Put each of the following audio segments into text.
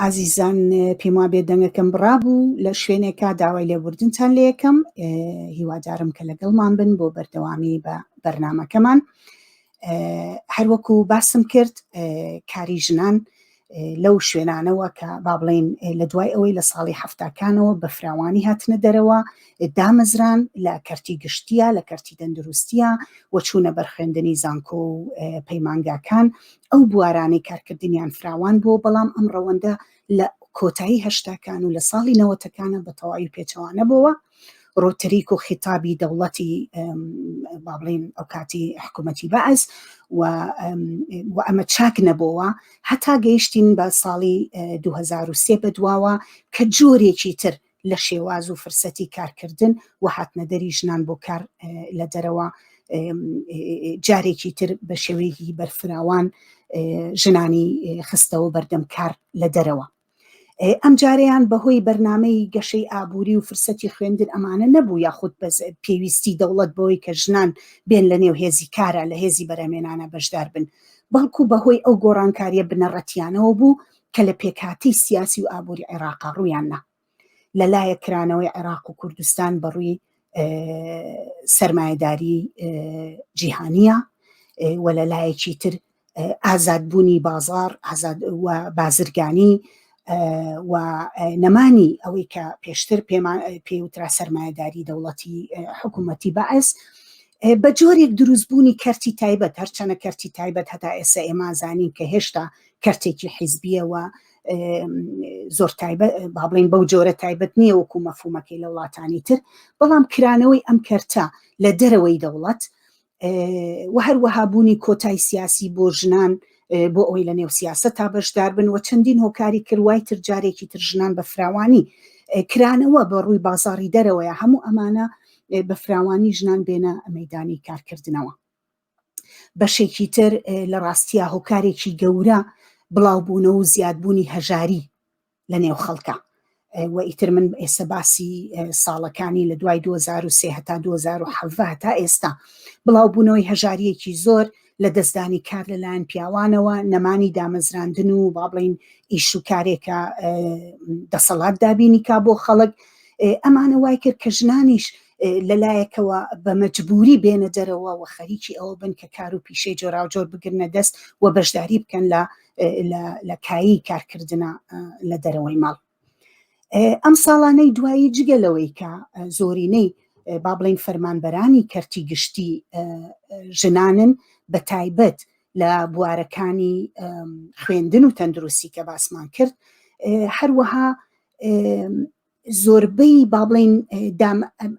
ئازیزان پێم وابێ دەنگەکەم بڕابوو لە شوێنێکا داوای لێبوردنتان لە یەکەم هیوادارم کە لەگەڵمان بن بۆ بەردەوامی بە بەرنمەکەمان هەروەکو باسم کرد کاری ژنان لەو شوێنانەوە کە با بڵین لە دوای ئەوەی لە ساڵی هەفتاکانەوە بە فراوانی هاتنە دەرەوە دامەزران لە کەرتی گشتیە لە کەرتی تەندروستیە وەچوونە بەرخێندنی زانکۆ و پەیمانگاکان ئەو بوارانەی کارکردنیان فراوان بووە، بەڵام ئەم ڕەوەندە لە کۆتایی هەشتاکان و لە ساڵی نەوەتەکانە بە تەواوی پێچەوانە بۆوە، ڕۆتریک و خیتابی دەوڵەتی با بڵێن ئەو کاتی حکوومەتی بەعس و ئەمە چاک نەبەوە هەتا گەیشتین بە ساڵی 2023 بەدواوە کە جۆرێکی تر لە شێواز و فرسەتی کارکردن و هاتنەدەری ژنان بۆ کار لە دەرەوە جارێکی تر بە شێوەیەکی بەرفراوان ژنانی خستەوە بەردەم کار لە دەرەوە ئەم جارەیان بەهۆی بەرنمەی گەشەی ئابووری و فرسەتی خوێندن ئەمانە نەبوو یاخود بەز پێویستی دەوڵەت بەوەی کە ژنان بێن لە نێو هێزی کارە لە هێزی بەرەمێنانە بەشدار بن بەڵکو بەهۆی ئەو گۆڕانکاریە بنەڕەتیانەوە بوو کە لە پێکهاتەی سیاسی و ئابووری عێراقا ڕوویان نا لە لایە کرانەوەی عێراق و کوردستان بەڕووی سرمایهداری جیهانیە و لە لایەکی تر ئازادبوونی بازار بازرگانی و نەمانی ئەوەی کە پێشتر پێمان پێوترا سرمایهداری دەوڵەتی حکوومەتی بەعس بە جۆرێک دروستبوونی کەرتی تایبەت هەرچەنە کەرتی تایبەت هەتا ئێستا ئێمانزانین کە هێشتا کەرتێکی حیزبیە و زۆر تایبەت با بڵین بەو جۆرە تایبەت نییە وەکو مەفومەکەی لە وڵاتانی تر بەڵام کرانەوەی ئەم کەرتە لە دەرەوەی دەوڵەت و هەروەها بوونی کۆتای سیاسی بۆ ژنان بۆ ئەوی لە نێو سیاست تا بەشدار بن و چەندین هۆکاری کردوای تر جارێکی تر ژنان بە فراوانی کرانەوە بە ڕووی بازاری دەرەوەیە هەموو ئەمانە بە فراوانی ژنان بێنە مەدانی کارکردنەوە بەشێکی تر لە ڕاستیە هۆکارێکی گەورە بڵاوبوونە و زیادبوونی هەژاری لە نێو خەڵکە و ئیتر من ئێستا باسی ساڵەکانی لە دوای 2023 هەتا 2010 تا ئێستا بڵاوبوونەوەی هەژاریەکی زۆر لە دەستدانی کار لەلایەن پیاوانەوە نەمانی دامەزراندن و با بڵین ئیش و کارێکە دەسەڵات دابینی کا بۆ خەڵک ئەمانە وای کرد کە ژنانیش لەلایەکەوە بە مەجبوری بێنە دەرەوە و خەریکی ئەوە بن کە کار و پیشەی جۆراوجۆر بگرنە دەست و بەشداری بکەن لە لە کایی کارکردە لە دەرەوەی ماڵ ئەم ساڵانەی دوایی جگە لەوەی کە زۆرینەی با بڵین فەرمانبەرانی کەرتی گشتی ژنانن بە تایبەت لە بوارەکانی خوێندن و تەندروستی کە باسمان کرد هەروەها زۆربەی بابلین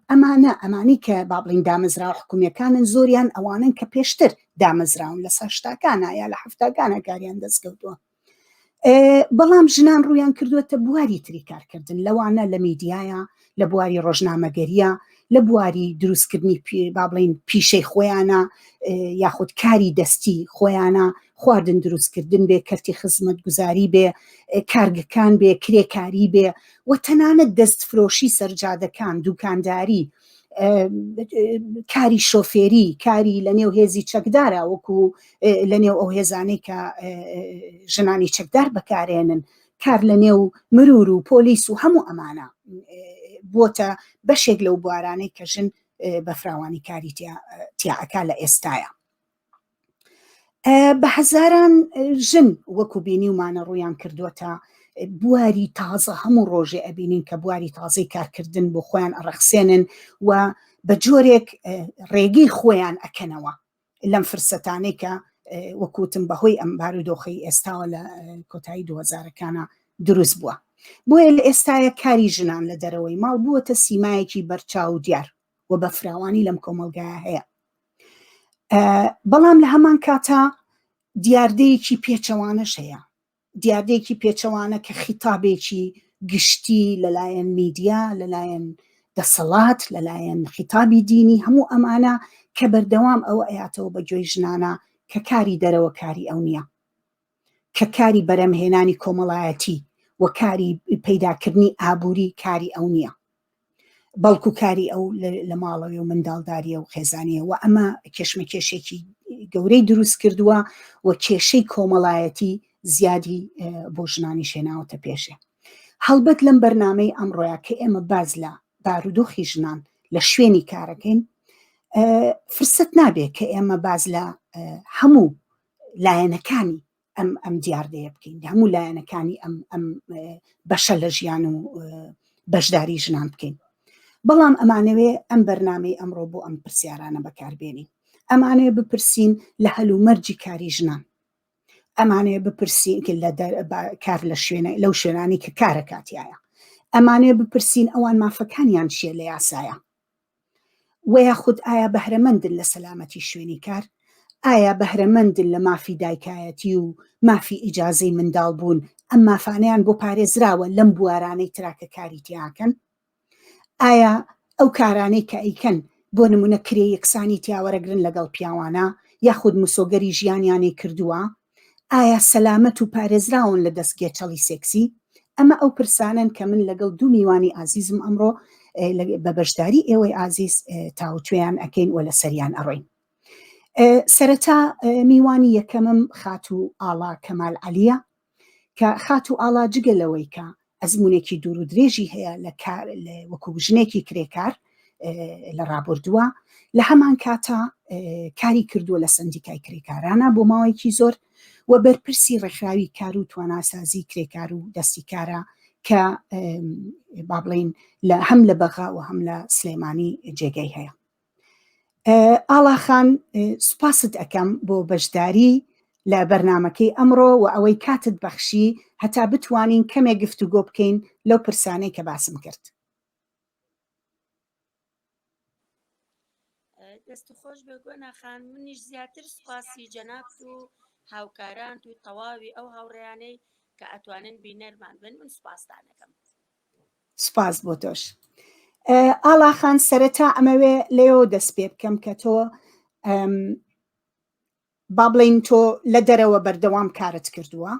ئەمانە ئەمانی کە بابلین دامەزرا حکومیەکانن زۆریان ئەوانن کە پێشتر دامەزراون لە ساشتاکانە یا لە هەفتاکانە کاریان دەستکەوتووە بەڵام ژنان ڕویان کردوێتە بواری تری کارکردن لەوانە لە میدیایە لە بواری ڕۆژنامەگەریە لە بواری دروستکردنی پێ با بڵین پیشەی خۆیانە یاخود کاری دەستی خۆیانە خواردن دروستکردن بێ کەرتی خزمەت گوزاری بێ کارگەکان بێ کرێکاری بێ و تەنانەت دەست فرۆشی سەرجادەکان دوکانداری کاری شۆفێری کاری لە نێو هێزی چەکدارە وەکو لە نێو ئەو هێزانەی کە ژنانی چەکدار بەکارێنن کار لە نێو مرور و پۆلیس و هەموو ئەمانە بۆتە بەشێک لەو بوارانەی کە ژن بەفراوانی کاری تیاعەکە لە ئێستاە بە هەزاران ژن وەکو بینیومانە ڕویان کردووەتە بواری تازە هەموو ڕۆژێ ئەبینین کە بواری تازەی کارکردن بۆ خۆیان ئەڕەخسێنن و بە جۆرێک ڕێگەی خۆیان ئەکەنەوە لەم فرسەتانەی کە وەکوتم بەهۆی ئەم بارودۆخی ئێستاوە لە کۆتایی دوهزارەکانە دروست بووە بۆیە لە ئێستاە کاری ژنان لە دەرەوەی ماڵ بووەتە سیمایەکی بەرچاو دیار و بە فراوانی لەم کۆمەڵگایە هەیە بەڵام لە هەمان کاتا دیاردەیەکی پێچەوانەش هەیە دیاردەیەکی پێچەوانە کە خیتابێکی گشتی لەلایەن میدیا لەلایەن دەسەڵات لەلایەن خیتابی دینی هەموو ئەمانە کە بەردەوام ئەوە ئەیاتەوە بە گوێی ژنانە کە کاری دەرەوە کاری ئەو نییە کە کاری بەرەمهێنانی کۆمەڵایەتی و کاری پەیداکردنی ئابووری کاری ئەو نییە بەڵکو کاری ئەو لە ماڵەوەی و منداڵداریە و خێزانە و ئەمە کێشمە کێشێکی گەورەی دروست کردووە و کێشەی کۆمەڵایەتی زیادی بۆ ژنانی شێناوەتە پێشێ هەڵبەت لەم بەرنمەی ئەمڕۆە کە ئێمە باز لە بارودۆخی ژنان لە شوێنی کارەکەین فرسەت نابێت کە ئێمە باز لە هەموو لایەنەکانی ئەم ئەم دیاردەیە بکەین هەموو لایەنەکانی ئەم ئەم بەشە لە ژیان و بەشداری ژنان بکەین بەڵام ئەمانەوێ ئەم بەرنمەی ئەمڕۆ بۆ ئەم پرسیارانە بەکاربێنین ئەمانەیە بپرسین لە هەلومەرجی کاری ژنان ئەمانەیە بپرسین لە کار لە شوێنە لەو شوێنانی کە کارە کاتیایە ئەمانەیە بپرسین ئەوان مافەکانیان چیە لە یاسایە وە یاخود ئایا بەهرەمەندن لە سەلامەتی شوێنی کار؟ ئایا بەهرەمەندن لە مافی دایکایەتی و مافی ئیجازەی منداڵ بوون، ئەم مافانەیان بۆ پارێزراوە لەم بوارانەی ترا کە کاری تیاکەن؟ ئایا ئەو کارانەی کە ئەیکەن بۆ نمونە کرێ یەکسانی تیاوەرەگرن لەگەڵ پیاوانە یاخود مسۆگەری ژیانیانی کردووە ئایا سەلامەت و پارێزراون لە دەست گێچەڵی سێکسی؟ ئەمە ئەو پرسانەن کە من لەگەڵ دوو میوانی ئازیزم ئەمڕۆ بە بەشداری ئێوەی ئازیز تاوتوێیان ئەکەین و لەسەریان ئەڕۆین. سەرەتا میوانی یەکەمم خاتوو ئاڵا کەمال عەلیە کە خاتوو ئاڵا جگە لەوەی کە ئەزمونێکی دوور و درێژی هەیە لە کار وەکو ژنێکی کرێکار لە ڕابردووە لە هەمان کاتە کاری کردووە لە سندیکای کرێکارانە بۆ ماوەیەکی زۆر و بەرپرسی ڕێکخراوی کار و تواناسازی کرێکار و دەستی کارە کە با بڵین لە هەم لە بەغا و هەم لە سلێمانی جێگەی هەیە ئاڵاخان سوپاست ئەەکەم بۆ بەشداری لە بەرنمەکەی ئەمڕۆ و ئەوەی کاتت بەخشی هەتا بتوانین کەمێ گفت و گۆ بکەین لەو پرسانەی کە باسم کرد دەست خۆش بە گۆناخان منیش زیاتر سوپاسی جەناب و هاوکاران و تەواوی ئەو هاوڕیانەی کە ئەتوانن بینەرمان بن من سوپاستانەکەم سوپاس بۆ تۆش ئاڵاخان سەرەتا ئەمەوێ لێەوە دەست پێ بکەم کە تۆ با بڵین تۆ لە دەرەوە بەردەوام کارت کردووە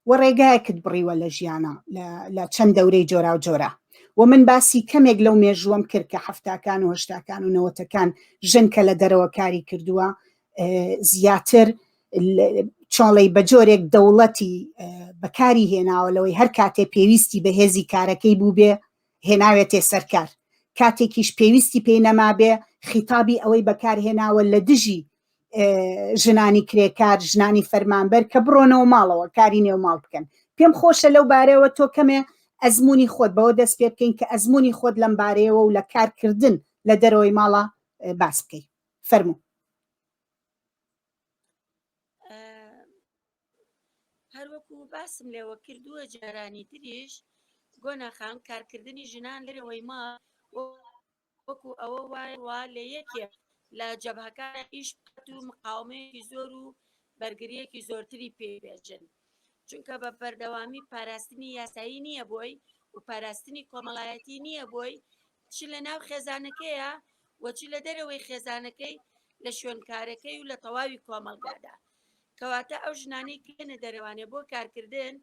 و ڕێگایەکت بڕیوە لە ژیانە لە چەند دەورەی جۆرا و جۆرە و من باسی کەمێک لەو مێژووەم کرد کە هەفتاکان و هشتاکان و نەوەتەکان ژنکە لە دەرەوە کاری کردووە زیاتر چاڵی بە جۆرێک دەوڵەتی بەکاری هێناوە لەوەی هەر کاتێ پێویستی بە هێزی کارەکەی بوو بێ هێناوێتێ سەرکار کاتێکیش پێویستی پێی نەمابێ خیتابی ئەوەی بەکارهێناوە لە دژی ژنانی کرێکار ژنانی فەرمانبەر کە بڕۆنەوە ماڵەوە کاری نێو ماڵ بکەن پێم خۆشە لەو بارەوە تۆ کەمێ ئەزمموی خۆت بەوە دەست پێ بکەین کە ئەزمموی خۆت لەم بارەیەوە و لە کارکردن لە دەرەوەی ماڵە باس بکەیت فەرموو هەروەکو باسم لێوە کردووە جارانی تریش گۆناخان کارکردنی ژنان لەرەوەی ما وەکو ئەوە وای وا لە یەکێ لە جەبهەکان ئیش بکات و مقاومەیەکی زۆر و بەرگریەکی زۆرتری پێبێژن چونکە بە بەردەوامی پاراستنی یاسایی نییە بۆی و پاراستنی کۆمەڵایەتی نییە بۆی چ لە ناو خێزانەکەیە و چ لە دەرەوەی خێزانەکەی لە شوێنکارەکەی و لە تەواوی کۆمەڵگادا کەواتە ئەو ژنانەی کێنە دەرەوانێ بۆ کارکردن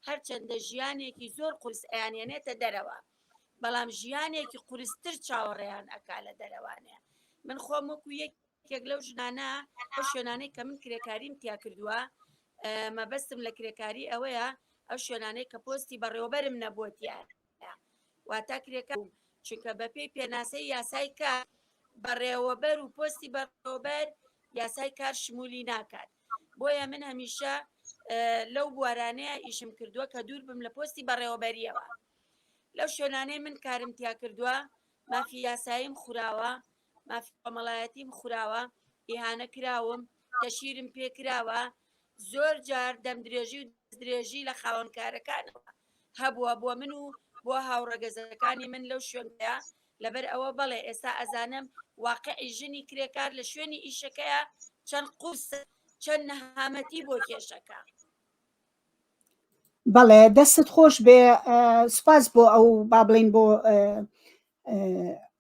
هەرچەندە ژیانێکی زۆر قورس ئەیانێنێتە دەرەوە بەڵام ژیانێکی قورستر چاوەڕێیان ئەکا لە دەرەوانێ من خۆم وەکو یەک یەکێک لەو ژنانە ئەو شوێنانەی کە من کرێکاریم تیا کردووە مەبەستم لە کرێکاری ئەوەیە ئەو شوێنانەی کە پۆستی بەڕێوەبەرم نەبووتیە واتا کرێکار چونکە بەپی پێناسەی یاسای کە بەڕێوەبەر و پۆستی بەڕێوەبەر یاسای کار شمولی ناکات بۆیە من هەمیشە لەو بوارانەیە ئیشم کردووە کە دوور بم لە پۆستی بەڕێوەبەریەوە لەو شوێنانەی من کارم تیا کردووە مافی یاساییم خوراوە مافی کۆمەڵایەتیم خوراوە ئیهانە کراوم تەشیرم پێکراوە زۆر جار دەم درێژی و درێژی لە خاوەنکارەکانەوە هەبووە بۆ من و بۆ هاوڕەگەزەکانی من لەو شوێندا لەبەر ئەوە بەڵێ ئێستا ئەزانم واقعی ژنی کرێکار لە شوێنی ئیشەکەیە چەند قوس چەند نەهامەتی بۆ کێشەکە بەڵێ دەستت خۆش بێ سپاس بۆ ئەو با بڵین بۆ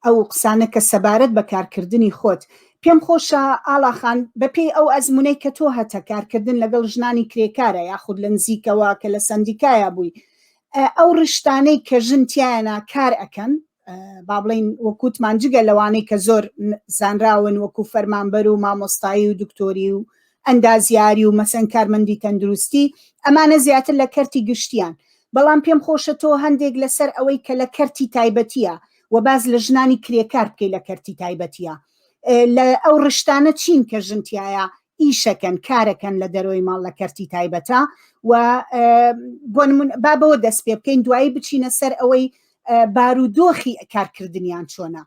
ئەو قسانە کە سەبارەت بە کارکردنی خۆت پێم خۆشە ئاڵاخان بەپێی ئەو ئەزمونەی کە تۆ هەتە کارکردن لەگەڵ ژنانی کرێکارە یاخود لە نزیکەوە کە لە سندیکایە بووی ئەو ڕشتانەی کە ژن تیایەنە کار ئەەکەن با بڵین وەکووتمان جگە لەوانەی کە زۆر زانراون وەکو فەرمانبەر و مامۆستایی و دکتۆری و ئەندازیاری و مەسەن کارمەندی تەندروستی ئەمانە زیاتر لە کەرتی گشتیان بەڵام پێم خۆشە تۆ هەندێک لەسەر ئەوەی کە لە کەرتی تایبەتیە و باز لە ژنانی کرێکار بکەی لە کەرتی تایبەتیە لە ئەو ڕشتانە چین کە ژنتیایە ئیشەکەن کارەکەن لە دەرەوەی ماڵ لە کەرتی تایبەتە و بۆ با بەوە دەست پێ بکەین دوایی بچینە سەر ئەوەی بارودۆخی کارکردنیان چۆنە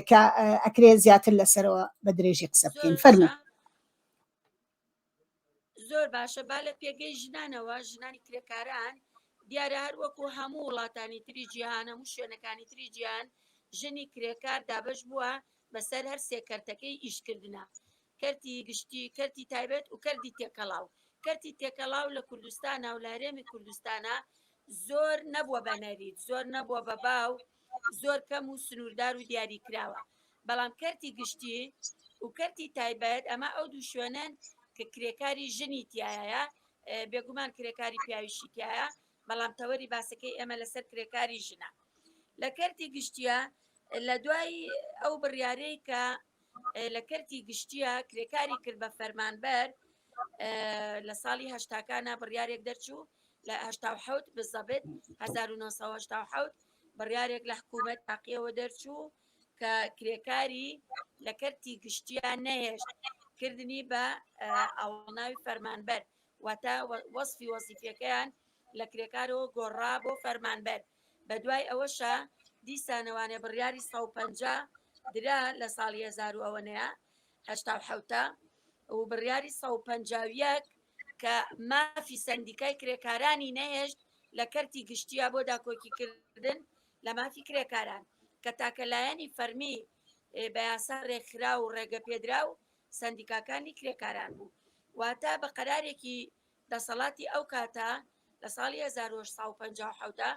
کە ئەکرێ زیاتر لەسەرەوە بە درێژی قسە بکەین فەرمو زۆر باشە با لە پێگەی ژنانەوە ژنانی کرێکاران دیارە هەر وەکو هەموو وڵاتانی تری جیهانە و شوێنەکانی تری جیان ژنی کرێکار دابش بووە بەسەر هەر سێکەرتەکەی ئیشکردە کەرتی گشتی، کەرتی تایبەت و کەرتی تێکەڵاو. کەرتی تێکەڵاو لە کوردستانا و لە هەرێمی کوردستانا زۆر نەبووە بە نەریت، زۆر نەبووە بە باو، زۆر کەم و سنووردار و دیاریکراوە. بەڵام کەرتی گشتی و کەرتی تایبەت، ئەمە ئەو دوو شوێنەن کە کرێکاری ژنی تیایایە، بێگومان کرێکاری پیاویشی تیایە، بەڵام تەوەری باسەکەی ئێمە لەسەر کرێکاری ژنە. لە کەرتی گشتیا لە دوای ئەو بڕیارەی کە لە کەرتی گشتیە کرێکاری کرد بە فەرمانبەر لە ساڵی هەشتاکانە بڕیارێک دەرچوو لە هشتا حوت بزەبێت 1970 بڕیارێک لە حکوومەت تاقیەوە دەرچوو کە کرێکاری لە کەرتی گشتیان نەهێشت کردنی بە ئەوڵناوی فەرمانبەر واتە وەصفی وەزیفەکەیان لە کرێکارەوە گۆڕا بۆ فەرمانبەر بەدوای ئەوەشا دیسانەوانێ بڕیاری سەد و پەنجا درا لە ساڵی هەزار و ئەوەنەیە هەشتا و حەوتە و بڕیاری سەد و پەنجا و یەک کە مافی سەندیکای کرێکارانی نەهێشت لە کەرتی گشتیە بۆ داکۆکیکردن لە مافی کرێکاران کە تاکە لایەنی فەرمی ئێ، بە یاسا ڕێکخرا و ڕێگە پێدرا و سەندیکاکانی کرێکاران بوو واتە بە قەرارێکی دەسەڵاتی ئەو کاتە لە ساڵی هەزار و هەشت سەد و پەنجا و حەوت دا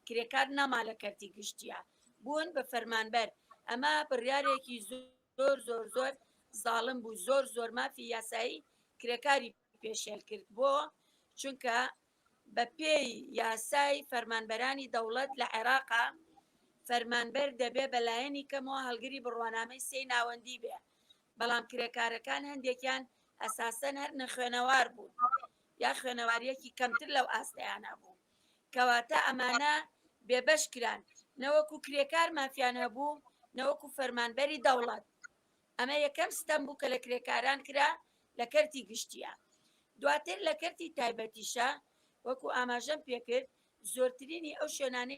کرێکار نەما لە کەرتی گشتییە بوون بە فەرمانبەر، ئەمە بڕیارێکی زۆر زۆر زۆر زاڵم بوو، زۆر زۆر مافی یاسایی کرێکاری پێشێل کرد، بۆ؟ چونکە بە پێی یاسای فەرمانبەرانی دەوڵەت لە عێراقا فەرمانبەر دەبێ بە لایەنی کەمەوە هەڵگری بڕوانامەی سێی ناوەندی بێ، بەڵام کرێکارەکان هەندێکیان ئەساسەن هەر نەخوێنەوار بوون یا خوێنەواریەکی کەمتر لەو ئاستەیانە بوو کەواتە ئەمانە بێبەش کران نەوەکو کرێکار مافیان هەبوو نەوەکو فەرمانبەری دەوڵەت ئەمە یەکەم ستەم بوو کە لە کرێکاران کرا لە کەرتی گشتیە دواتر لە کەرتی تایبەتیشە وەکو ئاماژەم پێکرد زۆرترینی ئەو شوێنانی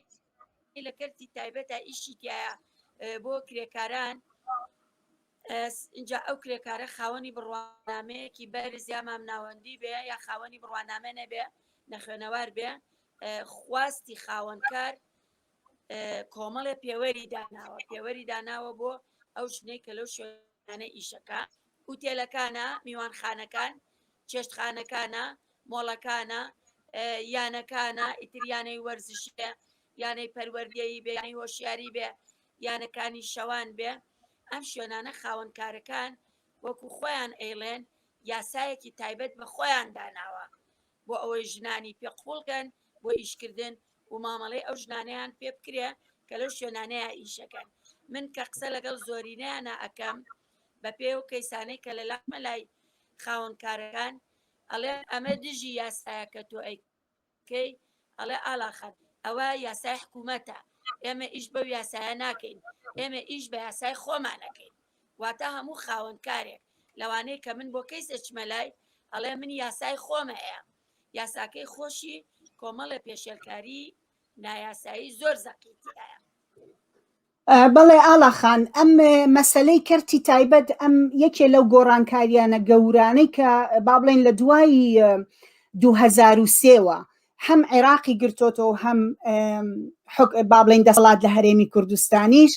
لە کەرتی تایبەتە ئیشی تایە بۆ کرێکاران اینجا ئەو کرێکارە خاوەنی بڕوانامەیەکی بەرز یا مامناوەندی بێ یا خاوەنی بڕوانامە نەبێ نەخوێنەوار بێ خواستی خاوەنکار کۆمەڵێ پێوەری داناوە پێوەری داناوە بۆ ئەو ژنەی کە لەو شوێنانە ئیشەکە ئوتێلەکانە، میوانخانەکان، چێشتخانەکانە، مۆڵەکانە، یانەکانە، ئیتر یانەی وەرزشی بێ، یانەی پەروەردەیی بێ، یانەی هۆشیاری بێ، یانەکانی شەوان بێ، ئەم شوێنانە خاوەنکارەکان وەکو خۆیان ئەیڵێن یاسایەکی تایبەت بە خۆیان داناوە بۆ ئەوەی ژنانی پێ قوڵ کەن بۆ ئیشکردن و مامەڵەی ئەو ژنانەیان پێ بکرێ کە لەو شوێنانەیە ئیشەکەن من کە قسە لەگەڵ زۆرینەیانە ئەکەم بە پێی ئەو کەیسانەی کە لە لامە لای خاوەن کارەکان ئەڵێن ئەمە دژی یاسایە کە تۆ ئەی کەی ئەڵێ ئالاخەت ئەوە یاسای حکوومەتە ئێمە ئیش بەو یاسایە ناکەین ئێمە ئیش بە یاسای خۆمانەکەین واتە هەموو خاوەن کارێک لەوانەیە کە من بۆ کەیس ئەچمە لای ئەڵێ من یاسای خۆمە هەیە یاساکەی خۆشی کۆمەڵە پێشێلکاری نایاسایی زۆر زەقیتیایە بەڵێ ئاڵا خان، ئەم مەسەلەی کەرتی تایبەت ئەم یەکێ لەو گۆڕانکارییانە گەورانەی کە با بڵێین لە دوای دوو هەزار و سێ وە هەم عێراقی گرتۆتەوە و هەم با بڵێین دەسەڵات لە هەرێمی کوردستانیش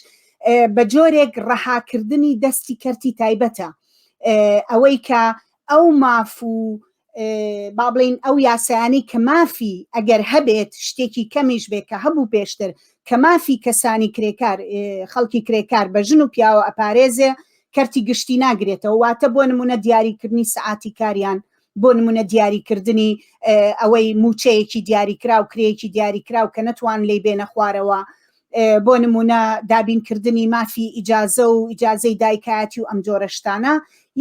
بە جۆرێک ڕەهاکردنی دەستی کەرتی تایبەتە ئەوەی کە ئەو ماف و با بڵین ئەو یاسایانی کە مافی ئەگەر هەبێت شتێکی کەمیش بێت کە هەبوو پێشتر کە مافی کەسانی کرێکار خەڵکی کرێکار بە ژن و پیاوە ئەپارێزێ کەرتی گشتی ناگرێتەوە واتە بۆ نمونە دیاریکردنی سعاتی کاریان بۆ نمونە دیاریکردنی ئەوەی موچەیەکی دیاریکراو کرێکی دیاریکراو کە نەتوان لی بێنە خوارەوە بۆ نموونە دابینکردنی مافی ئیجازە و ئیجازەی دایکایەتی و ئەم جۆرە شتانە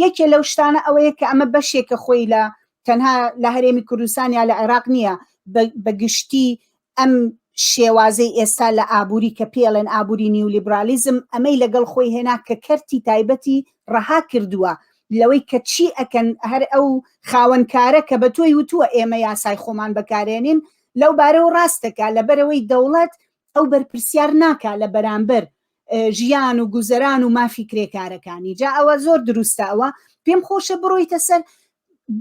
یەکێ لەو شتانە ئەوەیە کە ئەمە بەشێکە خۆی لە تەنها لە هەرێمی کوردستان یا لە عێراق نییە بە گشتی ئەم شێوازەی ئێستا لە ئابووری کە پێڵێن ئابووری نیولیبرالیزم ئەمەی لەگەڵ خۆی هێنا کە کەرتی تایبەتی ڕەها کردووە لەوەی کە چی ئەکەن هەر ئەو خاوەنکارە کە بە تۆی وتووە ئێمە یاسای خۆمان بەکارێنین لەو بارەوە ڕاستەکە لەبەرەوەی دەوڵەت ئەو بەرپرسیار ناکا لە بەرامبەر ژیان و گوزەران و مافی کرێکارەکانی جا ئەوە زۆر دروستە ئەوە پێم خۆشە بڕۆیتە سەر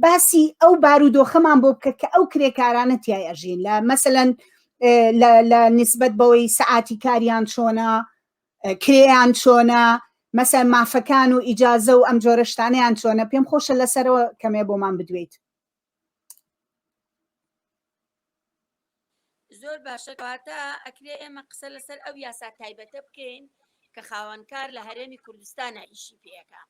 باسی ئەو بارودۆخەمان بۆ بکە کە ئەو کرێکارانە تای ئەژین لە مەسەەن لە نسبت بەوەی سعاتی کاریان چۆنا کرێیان چۆنا مەسەر مافەکان و ئیجاازە و ئەم جۆرەشتانیان چۆنە پێم خۆشە لەسەرەوە کەمێ بۆمان بدوێیت زۆر باشە کەواتە ئەکرێ ئێمە قسە لەسەر ئەو یاسا تایبەتە بکەین کە خاوەنکار لە هەرێمی کوردستانە ئیشی پێەکە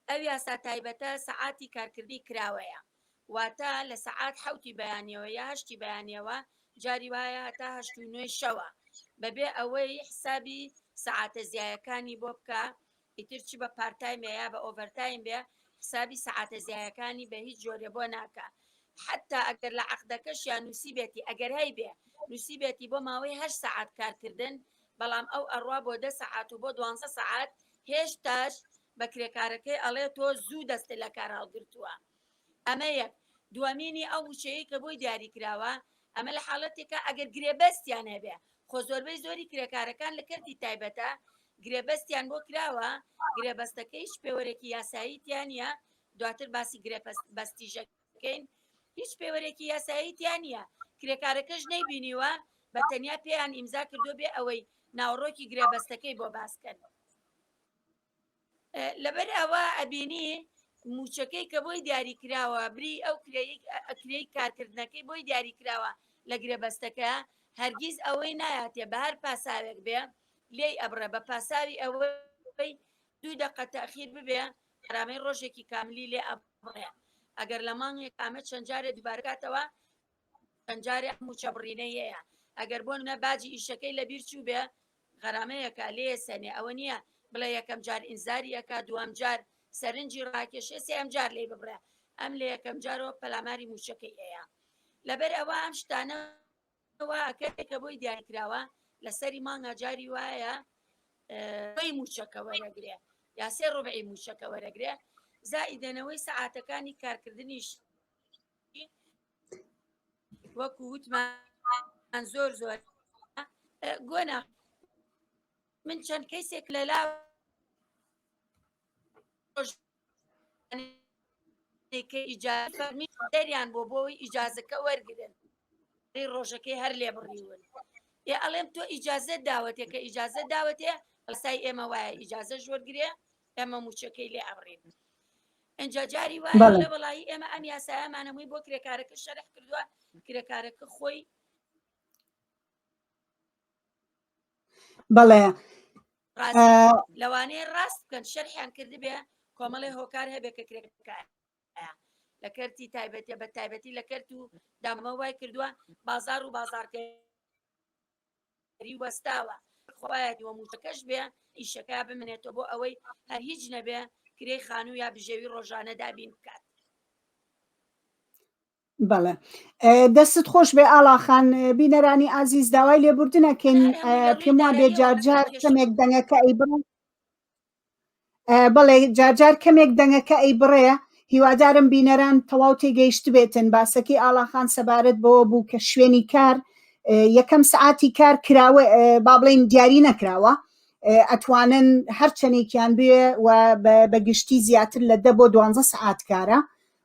ئەو یاسا تایبەتە سەعاتی کارکردی کراوەیە واتە لە سەعات حوتی بەیانەوە یا هەشتی بەیانەوە جاری وایە هەتا هەشت و نوێ شەوە بەبێ ئەوەی حسابی سەعاتە زیایەکانی بۆ بکە ئیتر چ بە پارت تایم بێ یا بە ئۆڤەر تایم بێ حسابی سەعاتە زیایەکانی بە هیچ جۆرێ بۆ ناکا حەتا ئەگەر لە عەقدەکەشیان نووسیبێتی ئەگەر هەیبێ نووسیبێتی بۆ ماوەی هەشت سەعات کارکردن بەڵام ئەو ئەڕوا بۆ دە سەعات و بۆ دوانزە سەعات هێشتاش بە کرێکارەکەی ئەڵێ تۆ زوو دەستت لە کار هەڵگرتووە ئەمە یەک. دووەمینی ئەو وشەیەی کە بۆی دیاری کراوە، ئەمە لە حاڵەتێکە ئەگەر گرێبەستیان هەبێ، خۆ زۆربەی زۆری کرێکارەکان لە کەرتی تایبەتە گرێبەستیان بۆ کراوە، گرێبەستەکەیش پێوەرێکی یاسایی تیا نییە، دواتر باسی گرێبەستیش ئەکەین، هیچ پێوەرێکی یاسایی تیا نییە، کرێکارەکەش نەیبینیوە، بە تەنیا پێیان ئیمزا کردووە بێ ئەوەی ناوەڕۆکی گرێبەستەکەی بۆ باس کەن. لەبەر ئەوە ئەبینی موچەکەی کە بۆی دیاری کراوە بری ئەو کرێی کارکردنەکەی بۆی دیاری کراوە لە گرێبەستەکە هەرگیز ئەوەی نایاتێ بە هەر پاساوێک بێ لێی ئەبڕێ بە پاساوی ئەوەی دوو دقە تاخیر ببێ ئەرامەی ڕۆژێکی کاملی لێ ئەبڕێ ئەگەر لە مانگێک ئامە چەند جارێ دووبارکاتەوە جارێ مووچە بڕینەیەیە ئەگەر بۆ منە باجی ئیشەکەی لە بیر چوو بێ غەرامەیەکە لێ سەنێ ئەوە نییە بڵێ یەکەم جار ئینزاریەکە دوام جار سەرنجی ڕاکێشێ سێم جار لی ببڕێ ئەم لە یەکەم جارەوە پەلاماری موچەکەی ئەیە لەبەر ئەوە ئەم شتانە کە بۆی دیاریکراوە لەسەری مانگا جاری وایە ڕێی موچەکە وەرەگرێ یا سێ ڕۆبعی موچەکە وەرەگرێ زائیدەنەوەی سەعاتەکانی کارکردنیش وەکو وتمان زۆر زۆر گۆنا من چەند کەسێک لە لا دەریان بۆ بۆی ئیجازەکە وەرگن ڕۆژەکەی هەر لێ بڕیون ئێ ئەڵێم تۆ ئیجازە داوەتێکە ئیجازە داوەتێ ئەسای ئێمە وایە ئیجازە ژۆرگرێ ئێمە موچەکەی لێ ئەبڕین ئەجا جاری وایە وڵی ئێمە ئەم یاسایەمانەمووی بۆ کرێکارەکە شەرح کردووە کرێکارەکە خۆی بەڵێ لەوانەیە ڕاست بکەن شەرحیان کردبێ کۆمەڵی هۆکار هەبێ کە کرێکار لە کەرتی تایبەتە بە تایبەتی لە کەرت و دامە وای کردووە بازار و بازارکە بەری وەستاوە خوایە دووەم وشەکەش بێ ئیشەکە بمنێتەوە بۆ ئەوەی هەر هیچ نەبێ کرێی خانوو یا بژێوی ڕۆژانە دابین بکات بەڵێ دەستت خۆش بێ ئاڵاخان بینەرانی ئازیز داوای لێبوردنەکەین پێم وا بێ جارجار کەمێک دەنگەکە ئەی بڕن بەڵێ جارجار کەمێک دەنگەکە ئەی بڕێ هیوادارم بینەران تەواو تێگەیشت بێتن باسەکەی ئاڵاخان سەبارەت بەوە بوو کە شوێنی کار یەکەم سعاتی کار کراوە با بڵین دیاری نەکراوە ئەتوانن هەرچەندێکیان بێ و بە گشتی زیاتر لە دە بۆ دوانزە سعات کارە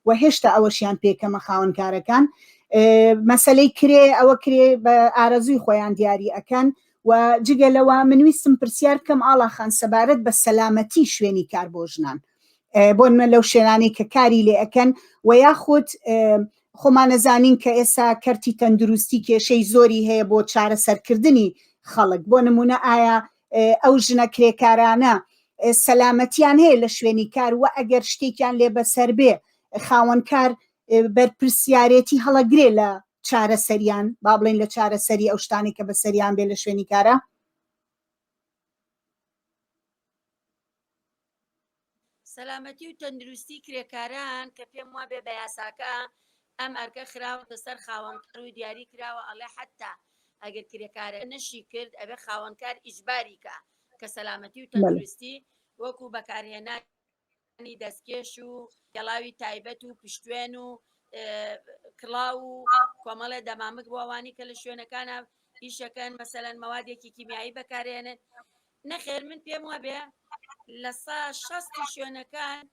وە هێشتا ئەوەشیان پێکەمە خاوەنکارەکان مەسلەی کرێ ئەوە کرێ بە ئارەزوی خۆیان دیاری ئەکەن و جگە لەوە منویستم پرسیار بکەم ئاڵاخان سەبارەت بە سەلامەتی شوێنی کار بۆ ژنان بۆن من لەو شێرانەی کە کاری لێ ئەەکەن و یاخود خۆمانەزانین کە ئێستا کەرتی تەندروستی کێشەی زۆری هەیە بۆ چارەسەرکردنی خەڵک بۆ نمونە ئایا ئەو ژنە کرێکارانە سەلامەتیان هەیە لە شوێنی کار و ئەگەر شتێکیان لێ بەسەر بێ خاوەنکار بەرپرسیارێتی هەڵەگرێ لە چارەسەریان با بڵێن لە چارەسەری ئەو شتانی کە بەسەریان بێ لە شوێنی کارە سەلامەتی و تەندروستی کرێکاران کە پێم وابێ بە یاساکە ئەم ئەرکە خراوەتە سەر خاوەنکار و دیاری کراوە ئەڵێ حتا ئەگەر کرێکارە نەشی کرد ئەبێ خاوەنکار ئیجباریکە کە سەلامەتی و تەندروستی وەکو بەکارهێنانی دەستکێش و گەڵاوی تایبەت و پشتێن و کڵاو و کۆمەڵێ دەمامک بۆوانی کە لە شوێنەکانە ئیشەکەن مەسەەن مەوادێکی کیمیایی بەکارێنن نەخێر من پێم وابێ لە سا شەستی شوێنەکان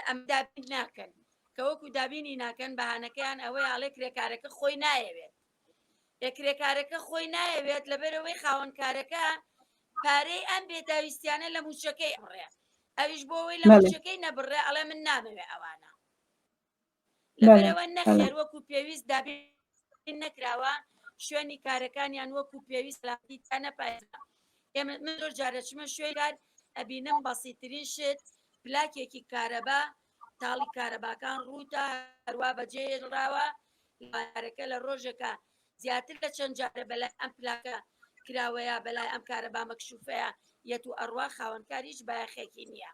ئەم دابین ناکەن کە وەکو دابینی ناکەن بەهانەکەیان ئەوەی ئاڵێ کرێکارەکە خۆی نایەوێت لە کرێکارەکە خۆی نایەوێت لەبەرەوەی خاوەنکارەکە پارەی ئەم بێداویستیانە لە موچەکەی ئەڕێ ئەویش بۆەوەی لە موچەکەی نەبڕێ ئەڵێ من نامەوێ ئەوانە لەبەرەوە نەخێر وەکو پێویست دابین نەکراوە شوێنی کارەکانیان وەکو پێویست لاتی تا نەپایزە ئێمە من زۆر جارەچمە شوێن کار ئەبینم بەسیترین شت پلاکێکی کارەبا تاڵی کارەباکان ڕووتە هەروە بەجێراوە لارەکە لە ڕۆژەکە زیاتر لە چەند جارە بەلای ئەم پلاکە کراوەیە بەلای ئەم کارەبا مەکشوفەیە یەت و ئەڕوا خاوەنکاریش بایەخێکی نییە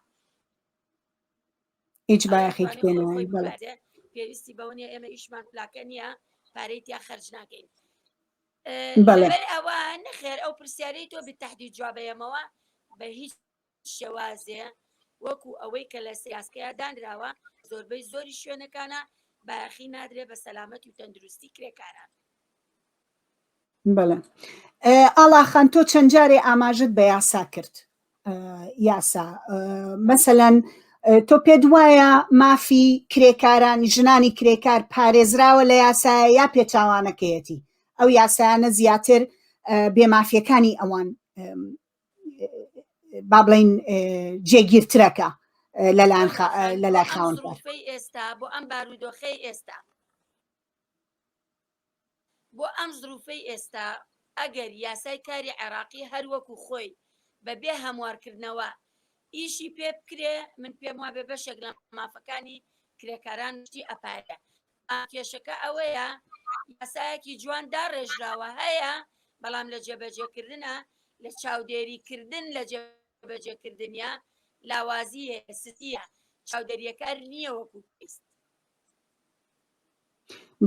هیچ بایەخێکی پێ نایە پێویستی بەوە نیە ئێمە ئیشمان پلاکە نییە پارەی تیا خەرج ناکەین بەڵێ ئەوە نەخێر ئەو پرسیارەی تۆ بتەحدی جوابەیەمەوە بە هیچ شێوازێ وەکو ئەوەی کە لە سیاسکەیە دانراوە زۆربەی زۆری شوێنەکانە باخی نادرێ بە سەلامەت و تەندروستی کرێکاران بەڵێ ئاڵاخان تۆ چەند جارێ ئاماژت بە یاسا کرد یاسا مەسەەن تۆ پێت وایە مافی کرێکاران ژنانی کرێکار پارێزراوە لە یاسایە یا پێچوانەکەیەتی ئەو یاسایانە زیاتر بێمافیەکانی ئەوان با بڵین جێگیرترەکە لەلایەن لەلای خاوەن ئێستا بۆ ئەم بارودۆخی ئێستا بۆ ئەم زروفەی ئێستا ئەگەر یاسای کاری عێراقی هەر وەکو خۆی بە بێ هەموارکردنەوە ئیشی پێ بکرێ من پێم وابێ بەشێک لە مافەکانی کرێکاران شتی ئەپارێ کێشەکە ئەوەیە یاسایەکی جوان داڕێژراوە هەیە بەڵام لە جێبەجێکردە لە چاودێریکردن لە جێبەجێکردنیا لاوازیە سستیە چاودێریەکار نییە وەکو پێست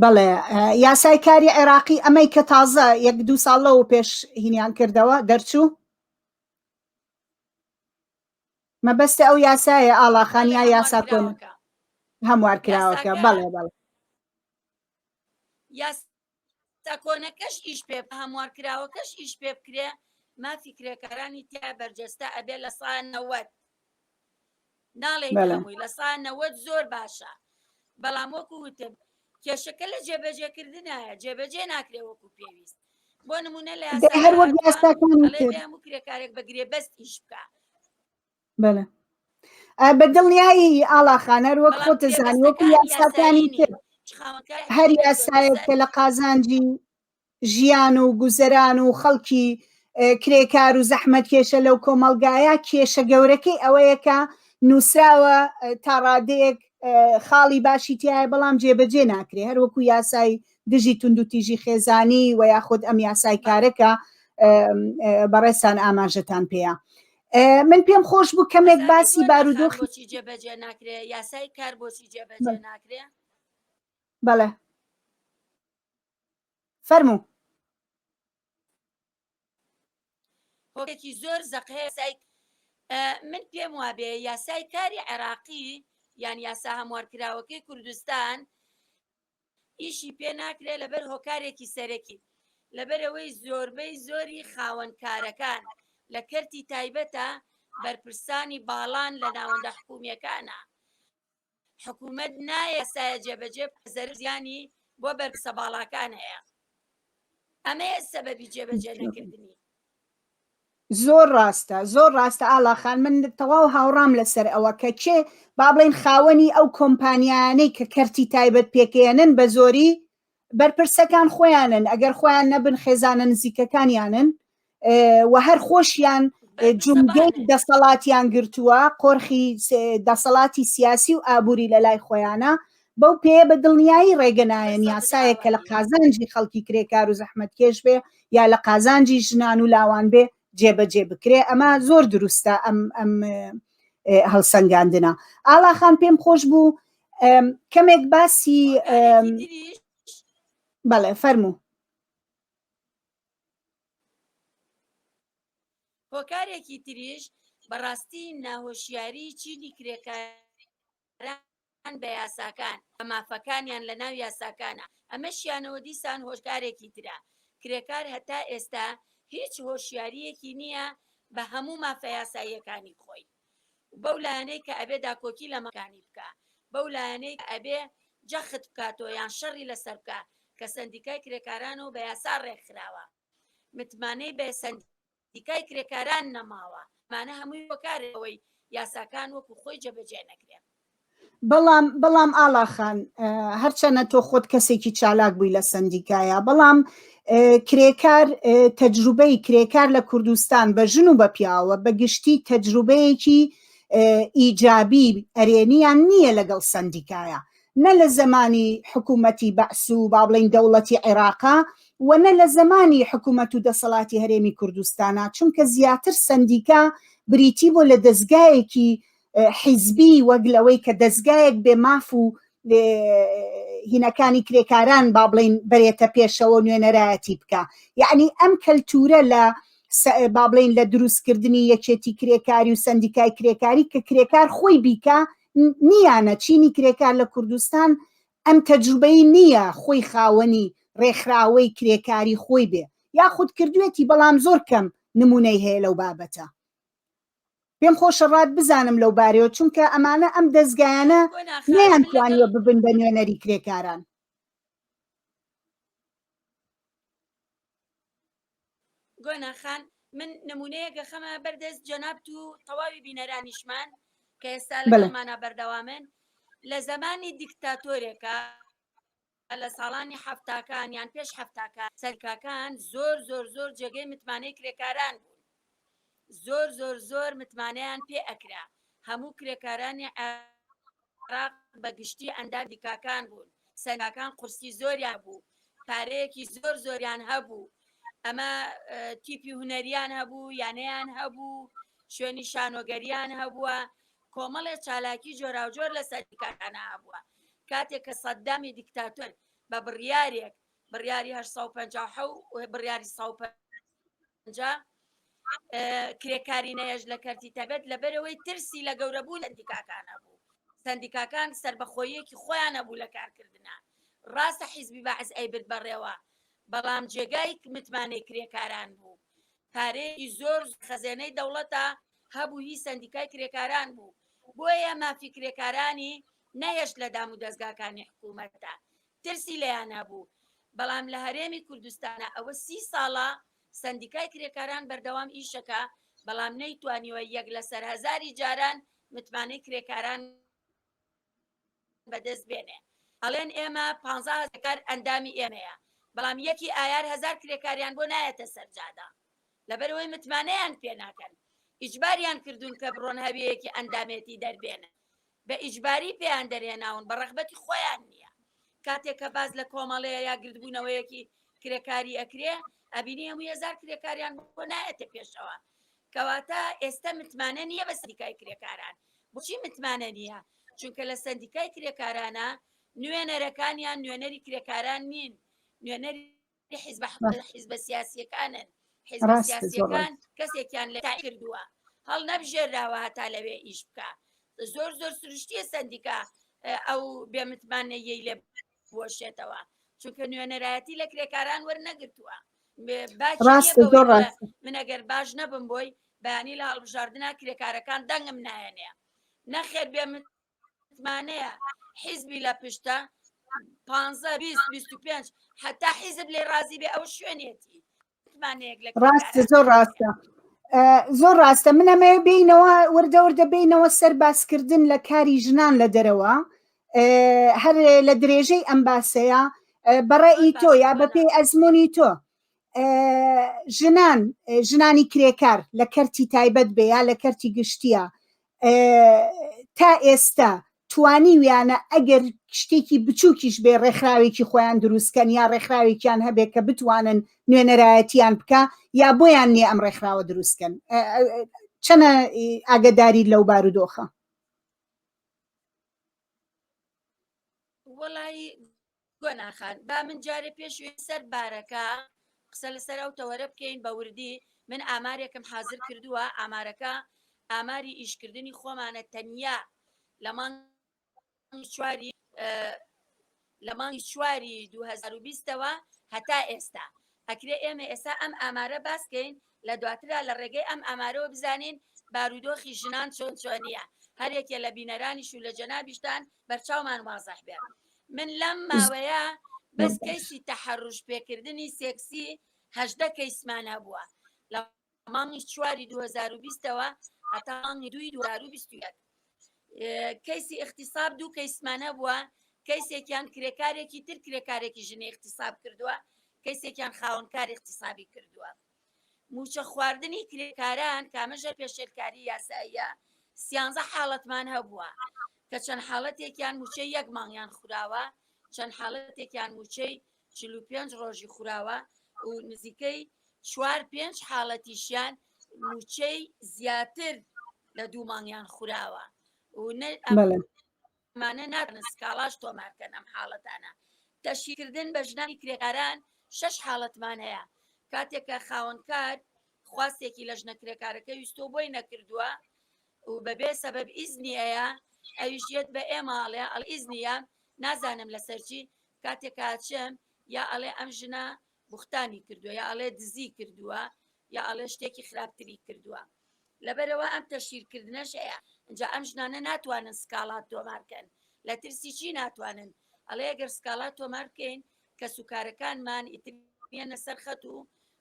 بەڵێ یاسای کاری عێراقی ئەمەی کە تازە یەک دوو ساڵ لەو پێش هینیان کردەوە دەرچوو مەبەستە ئەو یاسایە ئاڵاخانیا یاسا کۆن هەموار کراوەکە بەڵێ بەڵێ تاکۆنەکەش ئیش پێ هەموار کراوەکەش ئیش پێ بکرێ مافی کرێکارانی تیا بەرجەستە ئەبێ لە سا نەوەت ناڵێ هەمووی لە سا نەوەت زۆر باشە بەڵام وەکو وتم کێشەکە لە جێبەجێکردنایە جێبەجێ ناکرێ وەکو پێویست بۆ نمونە لە هەر وەک یاساکان کرێکارێک بەگرێ بەست ئیش بکە بەڵێ ئا بە دڵنیایی ئاڵا خانەر وەک بەڵام خۆتە زانی وەکو پێوستەکان یاساکانی یاسایی تر نییە چخاوەکانی هەر تری یاسایەک کە پێوستەکان لە قازانجی ژیان و گوزەران و خەڵکی ئه، کرێکار و زەحمەتکێشە لەو کۆمەڵگایە کێشە گەورەکەی ئەوەیە کە نووسراوە ئه، تا ڕادەیەک ئه، خاڵی باشی تایە بەڵام جێبەجێ ناکرێ هەر وەکو یاسای دژی توندوتیژی خێزانی و یاخود ئەم یاسای بەڵێ کارەکە ئه، ئه، بەڕێزتان ئاماژەتان پێیە من پێم خۆش بوو کەمێک باسی بارودۆخی جێبەجێ ناکرێ یاسای کار بۆچی جێبەجێ ناکرێ بەڵێ فەرموو هۆکێکی زۆر زەقەیە سای من پێم وابێ یاسای کاری عێراقی یان یاسا هەموارکراوەکەی کوردستان ئیشی پێ ناکرێت لەبەر هۆکارێکی سەرەکی، لەبەرئەوەی زۆربەی زۆری خاوەن کارەکان لە کەرتی تایبەتە، بەرپرسانی باڵان لە ناوەندە حکومییەکانە، حکومەت نایە یاسایە جێبەجێ بکات زەرەر و زیانی بۆ بەرپرسە باڵاکان هەیە، ئەمەیە سەبەبی جێبەجێ نەکردنی. زۆر ڕاستە زۆر ڕاستە ئاڵاخان من تەواو هاوڕام لەسەر ئەوە کە کێ با بڵێن خاوەنی ئەو کۆمپانیانەی کە کەرتی تایبەت پێکێنن بە زۆری بەرپرسەکان خۆیانن ئەگەر خۆیان نەبن خێزانە نزیکەکانیانن و هەر خۆشیان جومگەی دەسەڵاتیان گرتووە قۆرخی دەسەڵاتی سیاسی و ئابووری لە لای خۆیانە بەو پێ بە دڵنیایی ڕێگە نایەن یاسایە کە لە قازانجی خەڵکی کرێکار و زەحمت کێش بێ یا لە قازانجی ژنان و لاوان بێ جێبەجێ بکرێ ئەمە زۆر دروستە ئەم ئەم هەڵسەنگاندنە ئاڵاخان پێم خۆش بوو کەمێک باسی بەڵێ فەرموو هۆکارێکی تریش بەڕاستی ناهۆشیاری چینی کرێکار بەرامبەر گەڕان بە یاساکان و مافەکانیان لە ناو یاساکانا، ئەمەشیانەوە دیسان هۆشدارێکی ترە. کرێکار هەتا ئێستا هیچ هۆشیارییەکی نییە بە هەموو مافە یاساییەکانی خۆی و بەو لایەنەی کە ئەبێ داکۆکی لە مافەکانی بکا، بەو لایەنەی کە ئەبێ جەخت بکاتەوە یان شەڕی لەسەر بکا کە سەندیکای کرێکارانەوە بە یاسا ڕێکخراوە متمانەی بە سەندیکا. دیکای کرێکاران نەماوە ئەمانە هەمووی هۆکارن ئەوەی یاساکان وەکو خۆی جێبەجێ نەکرێن. بەڵام بەڵام ئاڵاخان هەرچەنە تۆ خۆت کەسێکی چالاک بووی لە سندیکایە بەڵام کرێکار تەجروبەی کرێکار لە کوردستان بە ژن و بە پیاوە بە گشتی تەجروبەیەکی ئیجابی ئەرێنیان نییە لەگەڵ سندیکایە نە لە زەمانی حکوومەتی بەعس و با بڵێین دەوڵەتی عێراقە و نە لە زەمانی حکوومەت و دەسەڵاتی هەرێمی کوردستانە، چونکە زیاتر سەندیکا بریتی بوو لە دەزگایەکی حیزبی وەک لەوەی کە دەزگایەک بێ ماف و هینەکانی کرێکاران با بڵین بەرێتە پێشەوە نوێنەرایەتی بکە یعنی ئەم کەلتورە لە با بڵین لە دروستکردنی یەکێتی کرێکاری و سندیکای کرێکاری کە کرێکار خۆی بیکە نییانە چینی کرێکار لە کوردستان ئەم تەجروبەی نییە خۆی خاوەنی ڕێکخراوەی کرێکاری خۆی بێ یاخود کردوێتی بەڵام زۆر کەم نمونەی هەیە لەو بابەتە پێم خۆشە ڕات بزانم لەو بارەوە چونکە ئەمانە ئەم دەستگایانە نیان توانیوە ببن بە نوێنەری کرێکاران گۆنا خان من نمونەیە گەخەمە بەردەست جەنابت و تەواوی بینەرانیشمان کە ئێستا لەمانە بەردەوامن لە زمانی دیکتاتۆرێکە لە ساڵانی هەفتاکان یان پێش هەفتاکە سەرکاکان زۆر زۆر زۆر جێگەی متمانەی کرێکاران بوون زۆر زۆر زۆر متمانەیان پێ ئەکرا هەموو کرێکارانی عێراق بە گشتی ئەندام دیکاکان بوون سەنگاکان قورسی زۆریان بوو پارەیەکی زۆر زۆریان هەبوو ئەمە تیپی هوەریان هەبوو یانەیان هەبوو شوێنی شانۆگەریان هەبووە کۆمەڵێ چالاکی جۆراوجۆر لە سەدیکارانە هەبووە کاتێک کە سەددامی دیکتاتۆر بە بڕیارێک بڕیاری 1950 بڕیاری 150 جا کرێکارینەیەش لە کەرتی تەبت لە بەرەوەی ترسی لە گەورەبوو لە دیکاکانە بوو سندیکاکان سربەخۆیەکی خۆیانە بوو لە کارکردە ڕاستە حیزبی بەعز ئەیبرد بەڕێوە بەڵام جێگای متمانەی کرێکاران بوو پارەیەکی زۆر خەزێنەی دەوڵەتە هەبوو هی سندیکای کرێکاران بوو بۆیە مافی کرێکارانی نەهێشت لە دام و دەستگاکانی حکوومەتدا ترسی لێیان هەبوو، بەڵام لە هەرێمی کوردستانا ئەوە سی ساڵە سەندیکای کرێکاران بەردەوام ئیشەکا، بەڵام نەیتوانیوە یەک لەسەر هەزاری جاران متمانەی کرێکاران بەدەست بێنێ. ئەڵێن ئێمە پانزا هەزار کرێکار ئەندامی ئێمەیە، بەڵام یەکی ئایار هەزار کرێکاریان بۆ نایەتە سەر جادە، لەبەرئەوەی متمانەیان پێناکەن، ئیجباریان کردوون کە بڕۆن هەویەیەکی ئەندامێتی دەربێنن. بە ئیجباری پێیان دەرهێناون بە ڕەغبەتی خۆیان نیە کاتێک کە باس لە کۆمەڵەیە یا گردبوونەوەیەکی کرێکاری ئەکرێ ئەبینی هەموو هزار کرێکاریان بۆ نایەتە پێشەوە کەواتە ئێستا متمانە نییە بە سەریکای کرێکاران بچی متمانە نییە چونکە لە سندیکای کرێکارانە نوێنەرەکانیان نوێنەری کرێکاران نین نوێنەری حیزبە حیزبە سیاسیەکانن حیزبە سیاسیەکان کەسێکیان لە کردووە هەڵ نەبژێراوە هەتا لەوێ ئیش بکە زۆر زۆر سروشتیە سندیکا ئەو بێمتمانەیەی لێ بۆشێتەوە چونکە نوێنەرایەتی لە کرێکاران وەرنەگرتووە ڕاست زۆر ڕاست منەگەر باش نەبم بۆی بەیانی لە هەڵبژاردنە کرێکارەکان دەنگم نایەنێ نەخێر بێ من متمانەیە حیزبی لە پشتە پێ حتا حیزب لێ ڕازی بێ ئەو شوێنێتی ڕاستە زۆر ڕاستە زۆر ڕاستە منەمەوێ بینەوە وردە وردە بینەوە سەر باسکردن لە کاری ژنان لە دەرەوە هەر لە درێژەی ئەم باسەیە بەڕێی تۆ یا بەپێی ئەزمموی تۆ ژنان ژنانی کرێکار لە کەرتی تایبەت بێ یا لە کەرتی گشتیە تا ئێستا توانیویانە ئەگەر شتێکی بچووکیش بێ ڕێکخراوێکی خۆیان دروستکەن یا ڕێکخراوێکیان هەبێ کە بتوانن نوێنەرایەتیان بکە یا بۆیان نیە ئەم ڕێکخراوە دروستکەن چەنە ئاگداری لەو بارودۆخە وەڵی گۆنا خان با من جارێ پێش وێ سەر بارەکە قسە لەسەر ئەو تەوەرە بکەین بە وردی من ئامارێکم حازر کردووە ئامارەکە ئاماری ئیشکردنی خۆمانە تەنیا لە مانگ چواری لە مانگی چواری 2020ەوە هەتا ئێستا ئەکرێ ئێمە ئێستا ئەم ئامارە باسکەین لە دواترا لە ڕێگەی ئەم ئامارەوە بزانین بارودۆخی ژنان چۆن چۆنیە هەر یەکێ لە بینەرانیش و لە جەنابیشتان بەرچاومان وازح بێ من لەم ماوەیە بەس کەیسی تەحەڕوش پێکردنی سێکسی هەشدە کەیسمان هەبووە لە مانگی چواری 2020ەوە هەتا مانگی دوی 2021 کەیسی اختصاب دوو کەیسمانە بووە کەیسێکیان کرێکارێکی تر کرێکارێکی ژنی اختصاب کردووە کەیسێکیان خاونکار اختصابی کردووە موچە خواردنی کرێکاران کامەژە پێشێلکاری یاساییە سیانزە حاڵەتمان هەبووە کە چەند حاڵەتێکیان موچەی یەک مانگیان خوراوە چەند حاڵەتێکیان موچەی چل و پێنج ڕۆژی خوراوە و نزیکەی چوار پێنج حاڵەتیشیان موچەی زیاتر لە دوو مانگیان خوراوە و مانە ناتنە سکاڵاش تۆمارکەن ئەم حاڵەتانە تەشیکردن بە ژنانی کرێکاران شش حاڵەتمان هەیە کاتێکە خاوەنکار خواستێکی لە ژنە کرێکارەکە ویستۆ بۆی نەکردووە و بەبێ سەبەب ئیزنی ئەیا ئەویش یەت بە ئێمە ئەڵێ ئەڵ ئیزنی یام نازانم لەسەر چی کاتێک ئاچم یا ئەڵێ ئەم ژنە بوختانی کردوە یا ئەڵێ دزی کردوە یا ئەڵێ شتێکی خراپتری کردوە لەبەرەوە ئەم تەشیر کردنەش ئەیا ئەجا ئەم ژنانە ناتوانن سکاڵات تۆمارکەن لە ترسی چی ناتوانن ئەڵێ ئەگەر سکاڵات تۆمارکەین کەس و کارەکانمان ئیتر یەنە سەرخەت و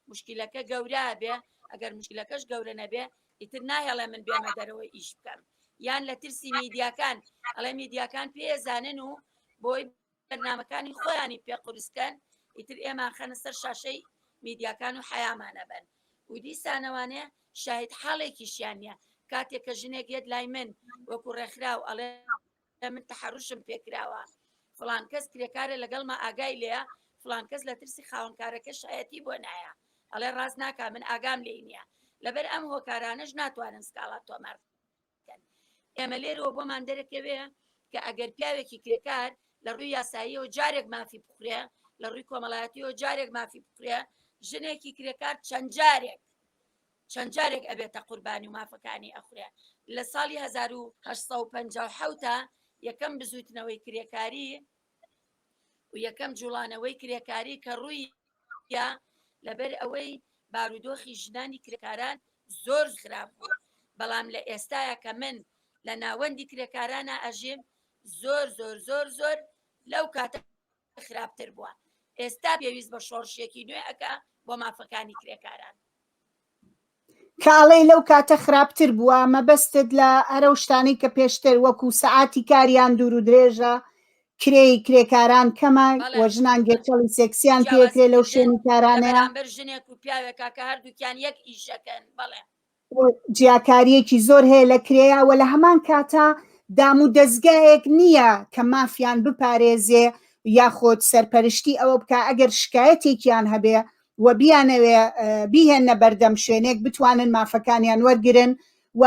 مشکلەکە گەورە بێ ئەگەر مشکلەکەش گەورە نەبێ ئیتر ناهێڵێ من بێمە دەرەوە ئیش بکەم یان لە ترسی میدیاکان ئەڵێ میدیاکان پێزانن و بۆی بەرنمەکانی خۆیانی پێ قورسکەن ئیتر ئێمان خەنە سەر شاشەی میدیاکان و حیامانە بن و دیسانەوانێ شاهد حاڵێکیشیان نیە کاتێک کە ژنێک یەت لای من وەکو ڕێکخراو ئەڵێ ئە من تەحەروشم پێکراوە فلان کەس کرێکارە لەگەڵمە ئاگای لێە فلان کەس لە ترسی خاوەنکارەکە شایەتی بۆ نایە ئەڵێ ڕاست ناکە من ئاگام لێ نییە لەبەر ئەم هۆکارانەش ناتوانن سکاڵات تۆمار ئێمە لێرەوە بۆمان دەرەکەوێ کە ئەگەر پیاوێکی کرێکار لە ڕووی یاساییەوە جارێک مافی بخورێ لە ڕووی کۆمەڵایەتیەوە جارێک مافی بخورێ ژنێکی کرێکار چەند جارێک چەند جارێک ئەبێتە قوربانی و مافەکانی ئەخورێ لە ساڵی هەزار و هەشت سەد و پەنجا و حەوت ە یەکەم بزووتنەوەی کرێکاری و یەکەم جوڵانەوەی کرێکاری کە ڕووی یا لەبەر ئەوەی بارودۆخی ژنانی کرێکاران زۆر خراپ بوو بەڵام لە ئێستاە کە من لە ناوەندی کرێکارانە ئەژیم زۆر زۆر زۆر زۆر لەو کاتە خراپتر بووە ئێستا پێویست بە شۆڕشێکی نوێ ئەکا بۆ مافەکانی کرێکاران کاڵێ لەو کاتە خراپتر بووە مەبەستت لە ئەرە شتانی کە پێشتر وەکو سەعاتی کاریان دوور و درێژە کرێی کرێکاران کەمە و ژنان گێچەڵی سێکسیان پێکرێ لەو شوێنی کارانەیە بەر ژنێک و پیاوێکا کە هەردووکیان یەک ئیشەکەن بەڵێ و جیاکاریەکی زۆر هەیە لە کرێا وە لە هەمان کاتا دام و دەزگایەک نییە کە مافیان بپارێزێ یاخۆد سەرپەرشتی ئەوە بکا ئەگەر شکایەتێکیان هەبێ و بیانەوێ بیهێنە بەردەم شوێنێک بتوانن مافەکانیان وەرگن و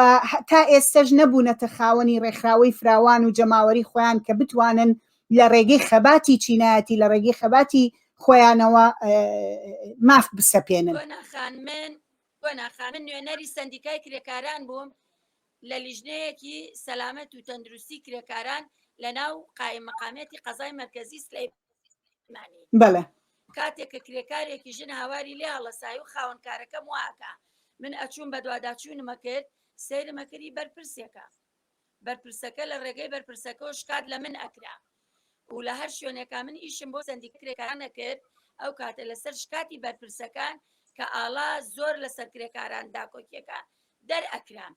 تا ئێستەش نەبوونەتە خاوەنی ڕێکخراوەی فراوان و جەماوەری خۆیان کە بتوانن لە ڕێگەی خەباتی چینایەتی لە ڕێگەی خەباتی خۆیانەوە ماف بسەپێنن قۆناخە، من نوێنەری سەندیکای کرێکاران بووم لە لیژنەیەکی سەلامەت و تەندروستی کرێکاران لە ناو قایم مقامێتی قەزای مەرکەزی سلەی مانی بەڵێ کاتێک کە کرێکارێکی ژن هاواری لێ هەڵەسای و خاونکارەکەم واکە من ئەچوون بە دواداچوونمە کرد سەیرمەکردی بەرپرسێکە بەرپرسەکە لە ڕێگەی بەرپرسەکەوە شکات لە من ئەکرا و لە هەر شوێنێکا من ئیشم بۆ سەندیکە کرێکاران ئەکرد ئەو کاتە لەسەر شکاتی بەرپرسەکان کە ئاڵا زۆر لەسەر کرێکاران داکۆکیەکە دەرئەکرام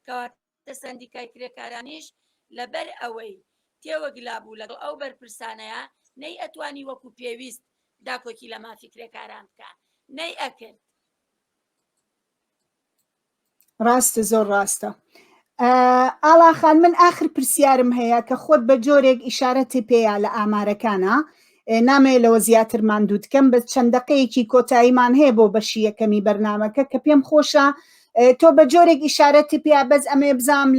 کەواتە سەندیکای کرێکارانیش لەبەر ئەوەی تێوەگلا بوو لەگەڵ ئەو بەرپرسانەیە نەی ئەتوانی وەکو پێویست داکۆکی لە مافی کرێکاران بکە نەی ئەکرد ڕاستە زۆر ڕاستە ئاڵاخان من ئاخر پرسیارم هەیە کە خۆت بە جۆرێک ئیشارەتی پێیا لە ئامارەکانە نامەیە لەوە زیاتر ماندوو دکەم بە چەند دقەیەکی کۆتاییمان هەیە بۆ بەشی یەکەمی بەرنمەکە کە پێم خۆشە تۆ بە جۆرێک ئیشارەتی پێ بەس ئەمێ بزام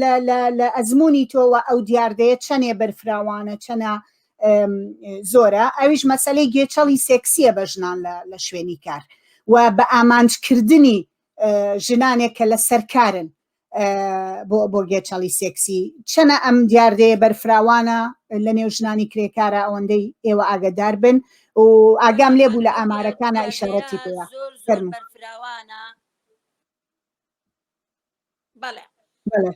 لە ئەزمموی تۆوە ئەو دیاردەیە چەندێ بەرفراوانە چەنە زۆرە ئەویش مەسلەی گێچەڵی سێکسیە بە ژنان لە شوێنی کار و بە ئامانجکردنی ژنانێک کە لە سەرکارن بۆ گێچەڵی سێکسی چەنە ئەم دیاردەیە بەرفراوانە لە نێو ژنانی کرێکارە ئەوەندەی ئێوە ئاگدار بن و ئاگام لێ بوو لە ئامارەکانە ئیشارەتی پێوە فەرمو بەڵێ بەڵێ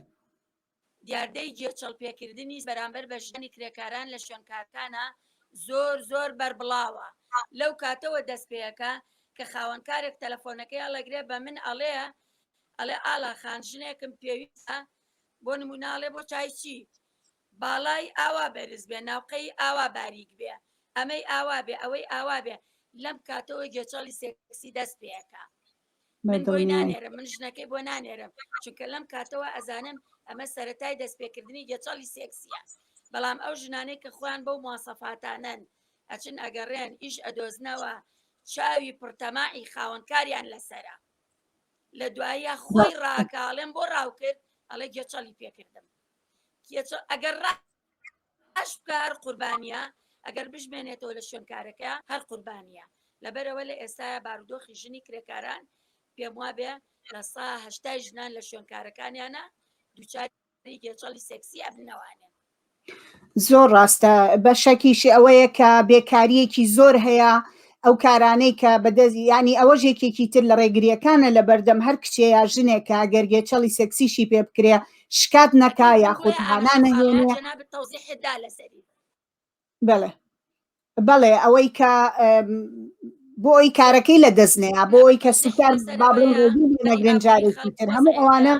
دیاردەی گێچەڵپێکردنیش بەرامبەر بە ژنی کرێکاران لە شوێنکارکانە زۆر زۆر بەربڵاوە لەو کاتەوە دەست پێەکە کە خاوەنکارێک تەلەفۆنەکەی ئەڵەگرێ بە من ئەڵێ ئەڵێ ئالا خان ژنێکم پێویستە بۆ نموناڵێ بۆ چایچی باڵای ئاوا بەرز بێ ناوقەی ئاوا باریک بێ ئەمەی ئاوا بێ ئەوەی ئاوا بێ لەم کاتەوە گێچەڵی سێکسی دەست پێەکە من بۆی نانێرم من ژنەکەی بۆ نانێرم چونکە لەم کاتەوە ئەزانم ئەمە سەتای دەستپێکردنی گەچەڵی سێکسیە بەڵام ئەو ژنانەی کە خۆیان بەو موواسەفاتانەن ئەچن ئەگەڕێن ئیش ئەدۆزنەوە چاوی پڕتەماعی خاوەنکاریان لەسرە لە دوایە خۆی ڕاکاڵێن بۆ ڕاوکرد ئەڵێ گێچەڵی پێکردم ئەگەر ڕا ئەشبکە هەر قوربانیە ئەگەر بشمێنێتەوە لە شوێن کارەکەیا هەر قوربانیە لەبەرئەوە لە ئێستایا بارودۆخی ژنی کرێکاران پێم وابێ لە سا هەشتای ژنان لە شوێن کارەکانیانە دووچاری گێچەڵی سێکسی ئەبنەوانێ زۆر ڕاستە بە شەکیشی ئەوەیە کە بێکاریەکی زۆر هەیە ئەو کارانەی کە بەدەزی ینی ئەوە ژێکێکی تر لە ڕێگریەکانە لە بەردەم هەر کچێ یا ژنێکە گەرگێچەڵی سەکسیشی پێ بکرێ شکات نەکا یاخود هانا نەهێنێ بڵێ بەڵێ ئەوەی کە بۆی کارەکەی لە دەستنەیە بۆی کە سوکار بابڵێن نەگرن جارێکی تر هەموو ئەوانە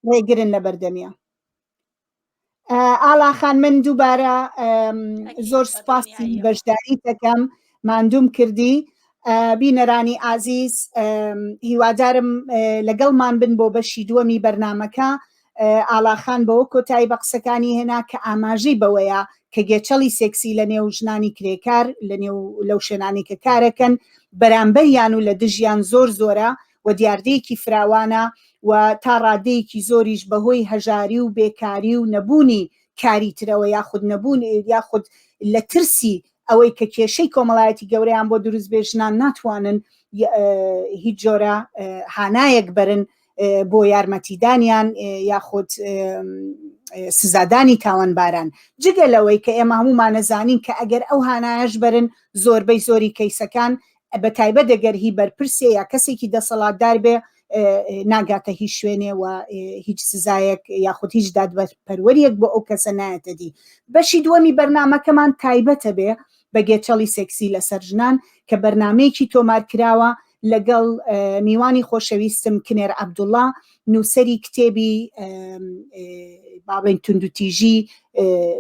ڕێگرن لە بەردەمیە ئالاخان من دووبارە زۆر سوپاسی بەشداری دەکەم ماندووم کردی بینەرانی ئازیز هیوادارم لەگەڵمان بن بۆ بەشی دووەمی بەرنمەکە ئالاخان بەوە کۆتایی بە قسەکانی هێنا کە ئاماژەی بەوەیە کە گێچەڵی سێکسی لە نێو ژنانی کرێکار لە نێو لەو شوێنانی کە کارەکەن بەرامبەریان و لە دژیان زۆر زۆرە و دیاردەیەکی فراوانە و تا ڕادەیەکی زۆریش بەهۆی هەژاری و بێکاری و نەبوونی کاری ترەوە یاخود نەبوون یاخود لە ترسی ئەوەی کە کێشەی کۆمەڵایەتی گەورەیان بۆ دروست بێ ژنان ناتوانن هیچ جۆرە هانایەک بەرن بۆ یارمەتیدانیان یاخود سزادانی تاوانباران جگە لەوەی کە ئێمە هەمومانەزانین کە ئەگەر ئەو هانایش بەرن زۆربەی زۆری کەیسەکان بە تایبەت دەگەر هی بەرپرسێ یا کەسێکی دەسەڵاتدار بێ ناگاتە هیچ شوێنێ و هیچ سزایەک یاخود هیچ دادپەروەریەک بۆ ئەو کەسە نایەتە دی بەشی دووەمی بەرنمەکەمان تایبەتە بێ بە گێچەڵی سێکسی لەسەر ژنان کە بەرنمەیەکی تۆمار کراوە لەگەڵ میوانی خۆشەویستم کنێر عبدوڵا نووسەری کتێبی باڵێن توندوتیژی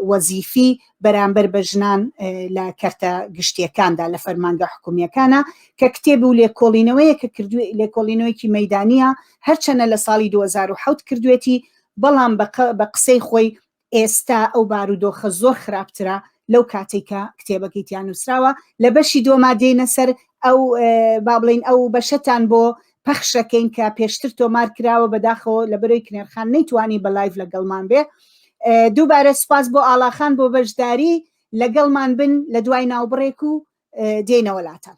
وەزیفی بەرامبەر بە ژنان لە کەرتە گشتیەکاندا لە فەرمانگە حکومیەکانە کە کتێب و لێکۆڵینەوەیە کە کردو لێکۆڵینەوەیکی مەدانە هەرچەنە لە ساڵی 2010 کردوێتی بەڵام بە قسەی خۆی ئێستا ئەو بارودۆخە زۆر خراپترە لەو کاتێک کە کتێبەکەی تیان نووسراوە لە بەشی دۆما دێنە سەر ئەو با بڵین ئەو بەشەتان بۆ پەخشەکەین کە پێشتر تۆمار کراوە بەداخەوە لە بەرەوەی کنێرخان نەیتوانی بە لایف لەگەڵمان بێ دووبارە سپاس بۆ ئاڵاخان بۆ بەشداری لەگەڵمان بن لە دوای ناوبڕێک و دێنەوە لاتان